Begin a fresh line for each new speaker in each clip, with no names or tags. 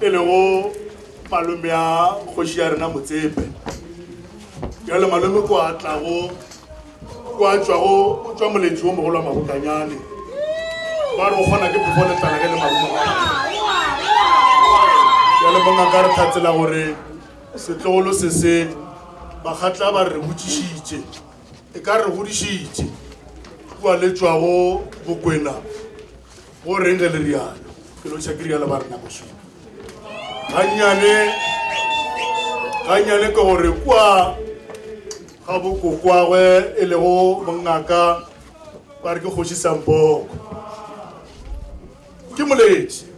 e lego malome ya kgoši ya rena motsepe jalo malome ko a tlago ko a tšwago o tšwa moletši wo mogolo wa mabokanyane ba re o kgona ke phofo letlana ge le marumo jalo bongaka re tlhatsela gore setlogolo se se bakgatla ba re botšišitše e ka re godišitše kua le tšwago bokwena Go reng ge le rialo? Ke lotšha ke rialo ba rena bošwi. Gannyane, gannyane ke gore kwa ga bokokwagwe e lego mongaka ba re ke kgoši Sampoko. Ke moletši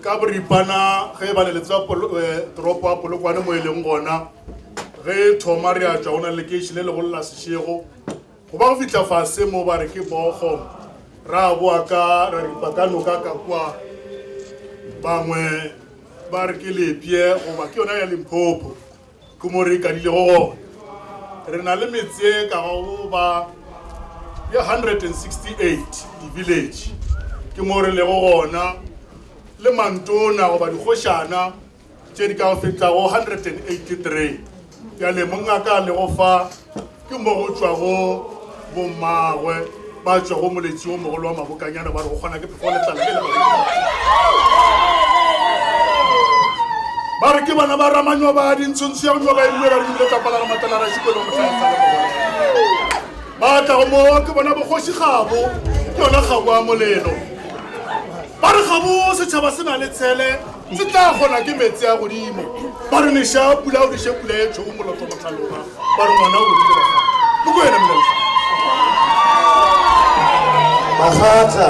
ka boripana ge ba le le tswa eh, toropo ya Polokwane mo e leng gona ge thoma re a tšwa go na lekeiši le legolo la Sešego Go ba go fihla fase mo ba re ke bogo, ra boa ka ra ripa ka noka ka kwa. Bangwe ba re ke lepye goba ke yona ya Limpopo ke mo re ikadilego gona. Re na le metse e ka bago ba ye 168, di-village, ke mo re lego gona le mantona goba dikgošana. tše di ka go fihla go 183 bjale monna ka le go fa ke mo go tšwa go bommagwe ba tšwa go moletši wo mogolo wa mabokanyana ba re go kgona ke phefo letlala le ba re ke bana ba ramanyo ba dintshontsho ya gonyo ba ebile ba re dibile tsapala ga matala ra šikolo motlhaetsa le mogolo ba tla go moo ke bona bogoši gabo ke yona gabo a molelo ba re gabo setšhaba se na le tshele Ntse tla kgona ke metse a godimo. Ba re neša pula o diše pula ye tšhogo moloto motlhaloga. Ba re ngwana o godile bakgata. Mo ko yena molaisa.
Bakgata.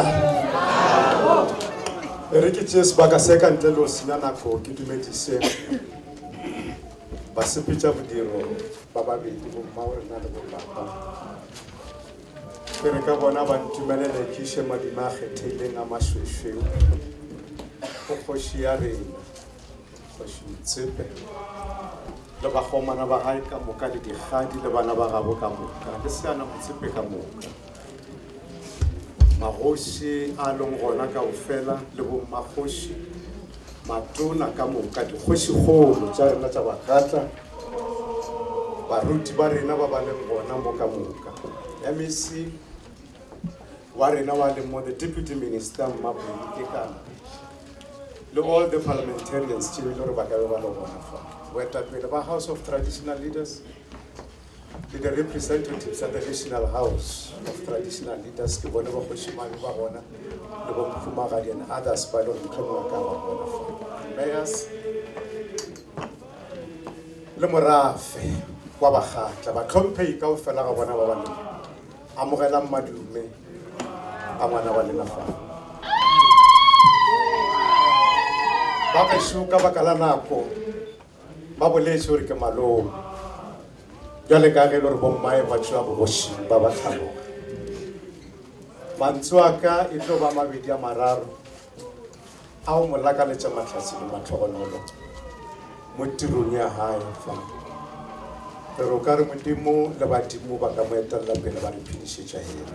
E re ke tšee sebaka se ka ntle le o senya nako ke dumedise basepetša bodiro ba babedi bomma o rena le bo papa. Ke re ka bona ba ntumelele ke iše madima a kgethehileng a mašwešweu go kgoši ya rena, Kgoši Motsepe, le bakgomana ba gae ka moka le dikgadi le bana ba gabo ka moka le Seana Motsepe ka moka, magoši a leng gona kaofela le bommakgoši, matona ka moka, dikgošikgolo tša rena tša Bagatla, Baruti ba rena ba ba leng gona mo ka moka, MEC wa rena wa leng mo, the Deputy Minister Mmabuli Kekana, le all the parliamentarians tšeo e le gore ba ka be ba le gona fa, boetapele ba House of Traditional Leaders, le the representatives of the National House of Traditional Leaders, ke bone bakgošimane ba gona, le bo Mphumagadi and others ba lego mohlomongwe ka ba gona fa. Mayors, le morafe wa bagatla batlhomphei ka o fela ga bona ba ba le amogelang madume a ngwana wa lena fa ba gašo ka baka la nako ba boletse gore ke maloo jale ka ge le gore bommae ba tšwa bogoši ba ba tlhaloga mantso a ka e tlo ba mabedi a mararo A o mo lakaletša mahlatse le mahlogonolo mo tirong ya gae fa? Re re o ka re Modimo le badimo ba ka mo etelela pele ba re phedišetša yena.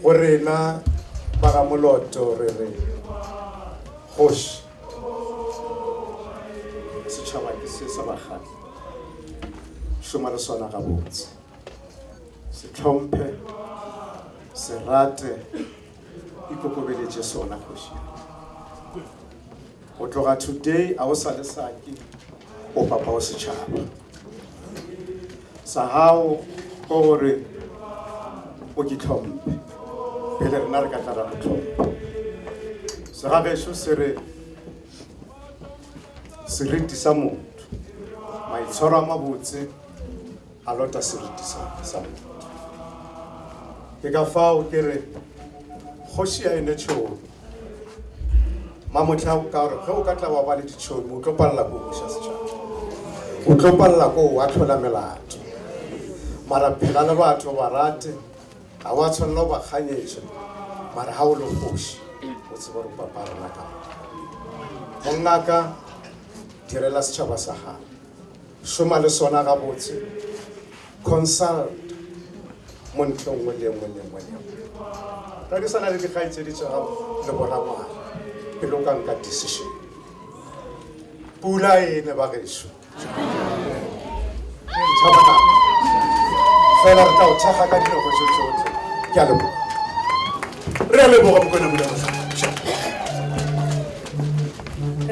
Go rena ba ga Moloto re re kgoši setšhaba ke se sa bakgatli šoma le sona gabotse se tlhomphe se rate Ikokobeletše sona, kgoši ya ka. Go tloga today a o sa le saki o papa o setšhaba sa gago go gore o ke tlhomphe pele rena re ka tla ra go tlhompha segagešo se re seriti sa motho maitshwaro a mabotse a lota seriti sa sa moithuti. Ke ka fao ke re kgoši ya ene tšhomi mamotlha ka gore ge o ka tla wa ba le ditšhomi o tlo palela ko buša setšhaba o tlo palela ko wa tlhola melato mara phela le batho ba rate ga wa tshwanela go ba kganyetša mara ga o le kgoši o tseba gore papa rena ka mongaka direla setšhaba sa gago Šoma le sona gabotse. Consult montle nngwe le nngwe le nngwe le nngwe. Rerisana le dikgaitsedi tša gago le borangwana pele o ka nka decision. Pula e ne ba gešo. Fela re tla o thekga ka dinako tše tsotlhe. Ke
a
leboga.
Re a
leboga Mokwena Molema.